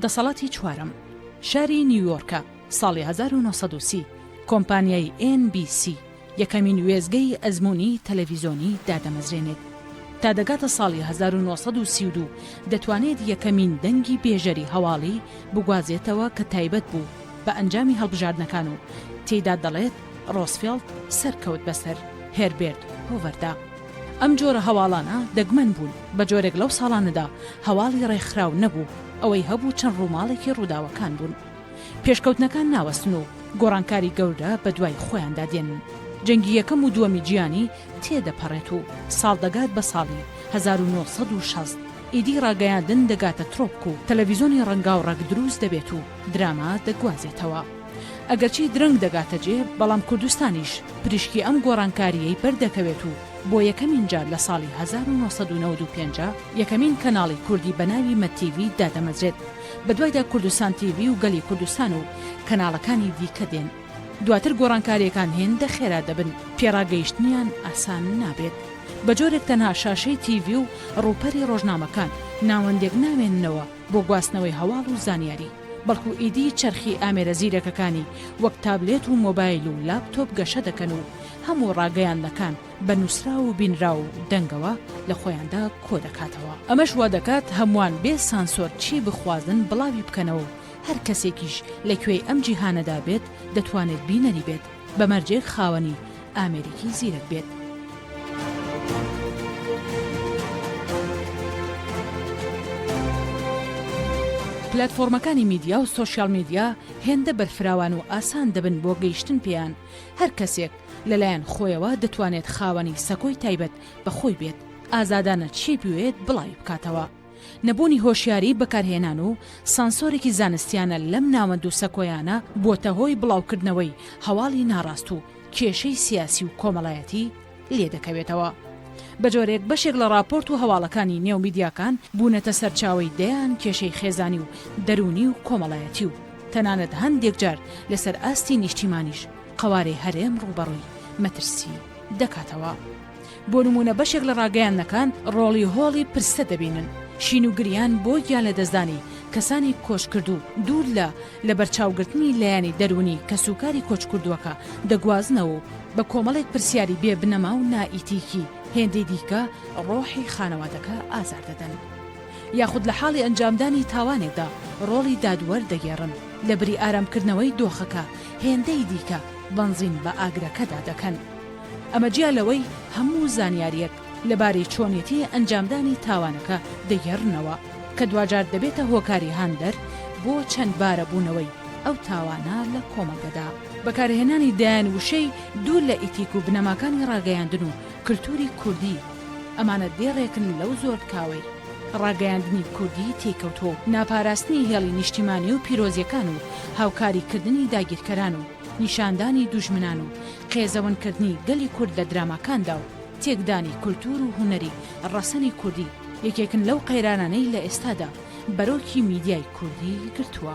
دەسەڵاتی چوارەم شاری نیویۆرکە ساڵی 1930 کۆمپانیای NBC یەکەمین وێستگەی ئەزموونی تەلەڤیزۆنی دادەمەزرێنێت تا دەگاتە ساڵی هەزار و نۆ سەد و سی و دوو دەتوانێت یەکەمین دەنگی بێژەری هەواڵی بگوازێتەوە کە تایبەت بوو بە ئەنجامی هەڵبژاردنەکان و تێیدا دەڵێت ڕۆزفێڵد سەرکەوت بەسەر هێربێرت هۆڤەردا ئەم جۆرە هەواڵانە دەگمەن بوون بە جۆرێک لەو ساڵانەدا هەواڵی ڕێکخراو نەبوو ئەوەی هەبوو چەند ڕووماڵێکی ڕووداوەکان بوون. پێشکەوتنەکان ناوەستن و گۆڕانکاری گەورە بە دوای خۆیاندا دێن. جەنگی یەکەم و دووەمی جیهانی تێ دەپەڕێت و ساڵ دەگات بە ساڵی هەزار و نۆ سەد و شەست. ئیدی ڕاگەیاندن دەگاتە ترۆپک و تەلەڤیزۆنی ڕەنگاوڕەگ دروست دەبێت و دراما دەگوازێتەوە. ئەگەرچی درەنگ دەگاتە جێ، بەڵام کوردستانیش پریشکی ئەم گۆڕانکارییەی بەر دەکەوێت و بۆ یەکەمین جار لە ساڵی هەزار و نۆ سەد و نەوەد و پێنج یەکەمین کەناڵی کوردی بە ناوی مەتیڤی دادەمەزرێت. بەدوایدا کوردستان تیڤی و گەلی کوردستان و کەناڵەکانی دیکە دێن. دواتر گۆڕانکارییەکان هێندە خێرا دەبن، پێڕاگەیشتنیان ئاسان نابێت. بە جۆرێک تەنها شاشەی تیڤی و ڕووپەری ڕۆژنامەکان، ناوەندێک نامێننەوە بۆ گواستنەوەی هەواڵ و زانیاری، بەڵکو ئیدی چەرخی ئامێرە زیرەکەکانی وەک تابلێت و مۆبایل و لاپتۆپ گەشە دەکەن و هەموو ڕاگەیاندنەکان، بە نووسراو و بینراو و دەنگەوە لە خۆیاندا کۆ دەکاتەوە، ئەمەش وا دەکات هەمووان بێ سانسۆر چی بخوازن بڵاوی بکەنەوە و هەر کەسێکیش لە کوێی ئەم جیهانەدا بێت دەتوانێت بینەری بێت بە مەرجێک خاوەنی ئامێرێکی زیرەک بێت. پلاتفۆرمەکانی میدیا و سۆشیال میدیا هێندە بەرفراوان و ئاسان دەبن بۆ گەیشتن پێیان، هەر کەسێک، لەلایەن خۆیەوە دەتوانێت خاوەنی سەکۆی تایبەت بە خۆی بێت، ئازادانە چی بوێت بڵاوی بکاتەوە. نەبوونی هۆشیاریی بەکارهێنان و سانسۆرێکی زانستیانە لەم ناوەند و سەکۆیانە بووەتە هۆی بڵاوکردنەوەی هەواڵی ناڕاست و کێشەی سیاسی و کۆمەڵایەتی لێ دەکەوێتەوە بە جۆرێک بەشێک لە ڕاپۆرت و هەواڵەکانی نێو میدیاکان بوونەتە سەرچاوەی دەیان کێشەی خێزانی و دەروونی و کۆمەڵایەتی و تەنانەت هەندێک جار لەسەر ئاستی نیشتیمانیش قەوارەی هەرێم ڕووبەڕووی مەترسی دەکاتەوە. بۆ نموونە بەشێک لە ڕاگەیاندنەکان ڕۆڵی هۆڵی پرسە دەبینن، شین و گریان بۆ گیانلەدەستدانی کەسانی کۆچکردوو، دوور لە لەبەرچاوگرتنی لایەنی دەروونی کەسوکاری کۆچکردووەکە، دەگوازنەوە و بە کۆمەڵێک پرسیاری بێ بنەما و نائیتیکی هێندەی دیکە ڕۆحی خانەوادەکە ئازار دەدەن. یاخود لە حاڵی ئەنجامدانی تاوانێکدا ڕۆڵی دادوەر دەگێڕن، لەبری ئارامکردنەوەی دۆخەکە، هێندەی دیکە بەنزین بە ئاگرەکەدا دەکەن. ئەمە جیا لەوەی هەموو زانیارییەک لەبارەی چۆنێتی ئەنجامدانی تاوانەکە دەگێڕنەوە، کە دواجار دەبێتە هۆکاری هاندەر بۆ چەندبارەبوونەوەی ئەو تاوانە لە کۆمەڵگەدا. بەکارهێنانی دەیان وشەی دوور لە ئیتیک و بنەماکانی ڕاگەیاندن و کلتووری کوردی، ئەمانە دێڕێکن لەو زۆر تکاوەی کە ڕاگەیاندنی کوردی تێی کەوتووە و ناپاراستنی هێڵی نیشتیمانی و پیرۆزیەکان و هاوکاری کردنی داگیرکەران و نیشاندانی دوژمنان و قێزەون کردنی گەلی کورد لە دراماکاندا و تێکدانی کولتوور و هونەری ڕەسەنی کوردی یەکێکن لەو قەیرانانەی لە ئێستادا بەرۆکی میدیای کوردی گرتووە.